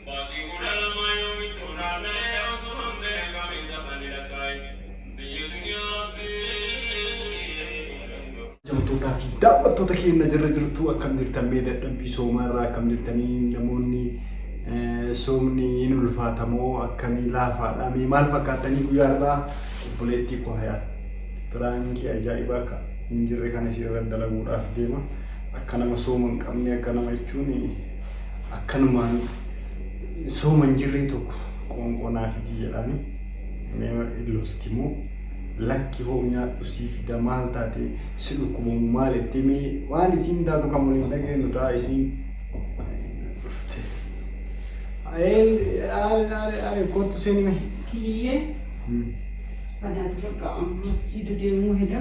Baatii 12 yoomittuu naanna'ee osoo hin beekamin zamanni lakkaa'e biyya duniyaa rabbiin. Kabajamtootaa fi daawwattoota keenya jirra jirtu akkam jirtan mee dadhabbii soomaa irraa akkam jirtanii namoonni soomni hin ulfaatamoo akkamii laafaadha mee maal fakkaattanii guyyaa irraa obboleettii koo hayaat biraankii ajaa'ibaa akka hin jirre kana isii irra dalaguudhaaf deema akka nama sooma hin qabne akka nama jechuun akkanumaan sooma hin jirree tokko qoonqoo naaf iti jedhaani mee illoositi immoo lakki hoo nyaadhu sii fida maal taate si dhukkubamu maal jettee mee waan isiin taatu kan waliin dhageenyu ta'a isiin dhufte. Ayeen aare aare aare kootu seeni mee. Kiliyyee. Adaati bakka amma masjiida deemuu heda.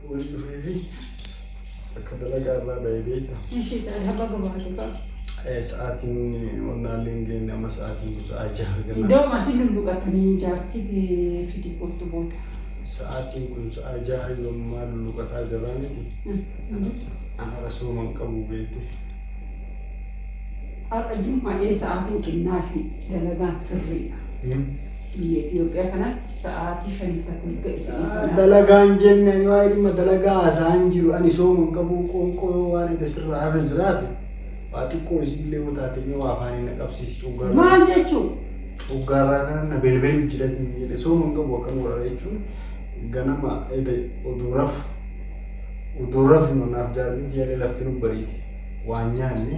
Waan dhufeefi akka dalagaa irraa ba'e beekta. Ishii taadhaa baga baate kaa. Eh, Sa'aatiin onnaallee hin geenye amma sa'aatiin kun sa'aa jaha ganama. Iddoo masin lulluqatanii jaartii tee fidii kottu booda. Sa'aatiin kun sa'aa jaha yommaa lulluqataa jirraa miti. Ana rasooma hin qabu beekte. Har'a jummaa ee sa'aatiin xinnaa fi dalagaan sirriidha. Hmm? Biyya Itoophiyaa kanatti sa'aatii shanitti akka hin ga'e ta'ee sana. Dalagaan jenne ani waa'ee dhimma dalagaa haasa'aa hin jiru ani sooma hin qabu qoonqoo yoo waan edda sirraa hafe jiraate waa xiqqoo isiillee yoo taate mee waa afaaniin na qabsiisi coggaarraa Maal jechuun? coggaarraa kana na belbelu jilatiin jedhe sooma hin qabu akkam godha jechuun ganama edda oduu rafu oduu rafnu naaf jaartiin tiyaallee lafti nu bariite waan nyaanne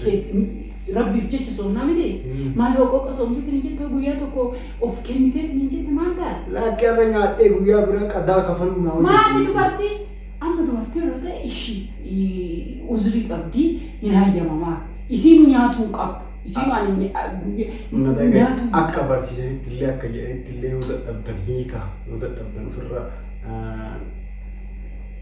kees- rabbiif jecha soomnaa miti maal hoqooqa soomtee kan hin jette guyyaa tokko of kennitee kan hin jette maal ta'a Laakki har'a nyaadhee guyyaa biraa qadaa kafaluu naa maati hojjechiisu. dubartii amma dubartii irra ta'e ishi uzrii qabdii hin hayyamamaa isiinu nyaatuu hin qabdu isiinu ani hin- Na guyya- dhagahi. nyaatuu hin Akka barsiisanitti illee akka jedhanitti illee yoo dadhabdan hiika yoo dadhabdan ofirra ah,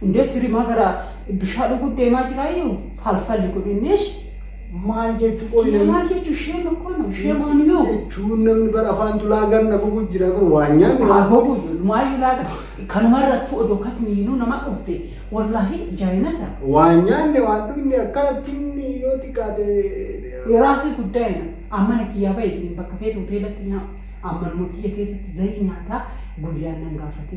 Hundee sirimaa gara bishaa dhuguun deemaa jiraayyuu falfalli kun innis maal jechu qoy Kiyya maal jechu shame akkoo no shame on you. jechuun namni bara afaan tulaa ganna gugu jira kun waa nyaanni Haa gogu maayyuu laaga kanuma irrattuu odoo katmiinuu nama dhufte wallaahi jaayinata waa nyaanne waan dhumne akkanatti inni yoo xiqqaate Yeraasii guddaa jedhan ammana kiyyaa bahe ittiin bakka feetu hoteelatti nyaata. Ammanuma kiyya keessatti zayii nyaataa guyyaan nan gaafate.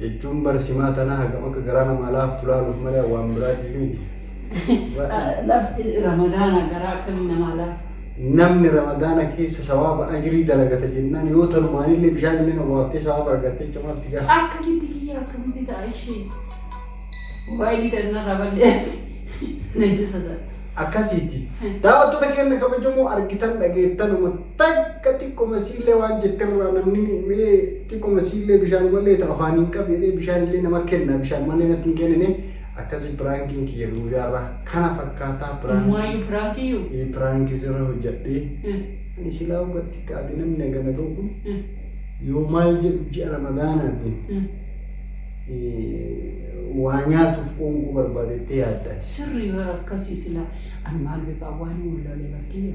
Jechuun bara simaa tanaa hagam akka garaa namaa laaftu laaluuf malee waan biraatiif miti. Lafti ramadaana garaa akkamii namaa laaftu? Namni ramadaana keessa sawaaba ajrii dalagata jennaan yoo tanumaanillee bishaan illee nawwaaftee sawaaba argatte jecha maaf si gaafata? Akka gitti kiyya akkamitti ta'a ishee? Moobaayilii tanna raballees najjisa ta'a. Akkasiiti. Daawwattoota keenya kabajamoo argitan dhageettan Takka xiqqoma siillee waan jetterraa namni mee xiqqoma siillee bishaan wallee ta afaan hin qabu jedhee bishaan illee nama kenna bishaan malee natti hin kennine akkasii piraankiin kiyya guyyaarraa kana fakkaataa piraankiin. Waayuu piraankiyyuu. Ee piraankii sirra hojjadhee. Ani silaa hogatti kaate namni hagana ga'u kun yoo maal jedhu ji'a ramadaanaatiin waa nyaatuuf qoonquu barbaadettee yaadda. Sirrii bara akkasii silaa ani maal beekaa waan hin wallaalee barkiyya.